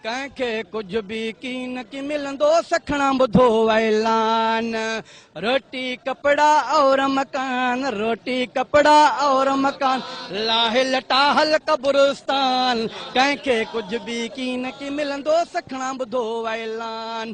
ڪنهن کي ڪجهه به ڪين ڪي ملندو سکڻان ٻڌو اعلان روٽي ڪپڙا اور مڪان روٽي ڪپڙا اور مڪان لاهي لٽا هل قبرستان ڪنهن کي ڪجهه به ڪين ڪي ملندو سکڻان ٻڌو اعلان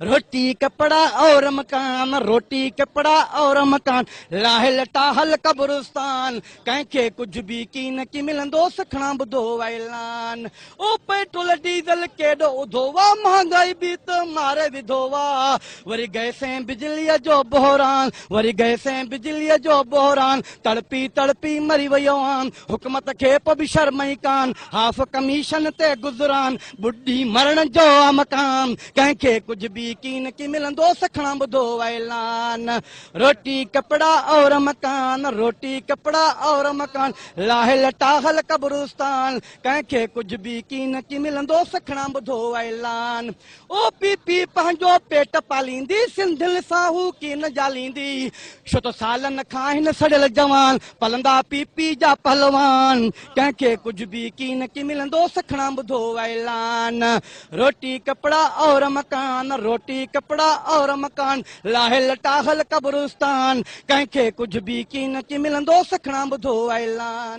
روٽي ڪپڙا اور مڪان، روٽي ڪپڙا اور مڪان، لاهه لٽا هل قبرستان، ڪنهن کي ڪجهه به ڪين ڪي ملندو، سکڻا ٻڌو اعلان، او پيٽرول ڊيزل ڪيڏو اڌو وا، مهانگائي به ته ماري وڌو وا، وري گئسين بجليء جو بحران، وري گئسين بجليء جو بحران، تڙپي تڙپي مري ويو آن، حڪمت کي پ به شرم ئي ڪان، هاف ڪميشن تي گذران، ٻڏي مرڻ جو آ مڪان، ڪنهن کي ڪجهه به ڪين ڪي ملندو سکڻان ٻڌو اعلان روٽي ڪپڙا اور مڪان روٽي ڪپڙا اور مڪان لاهه لٽا هل قبرستان ڪنهن کي ڪجهه به ڪين ڪي ملندو سکڻان ٻڌو اعلان او پي پي پنهنجو پيٽ پاليندي سنڌين سان هو ڪين جاليندي شو ته سالن کان هن سڙيل جوان پلندا پي پي جا پهلوان ڪنهن کي ڪجهه به ڪين ڪي ملندو سکڻان ٻڌو اعلان روٽي ڪپڙا اور مڪان، روٽي ڪپڙا اور مڪان، لاهي لٽا هل قبرستان، ڪنهن کي ڪجهه به ڪين ڪي ملندو، سکڻا ٻڌو اعلان.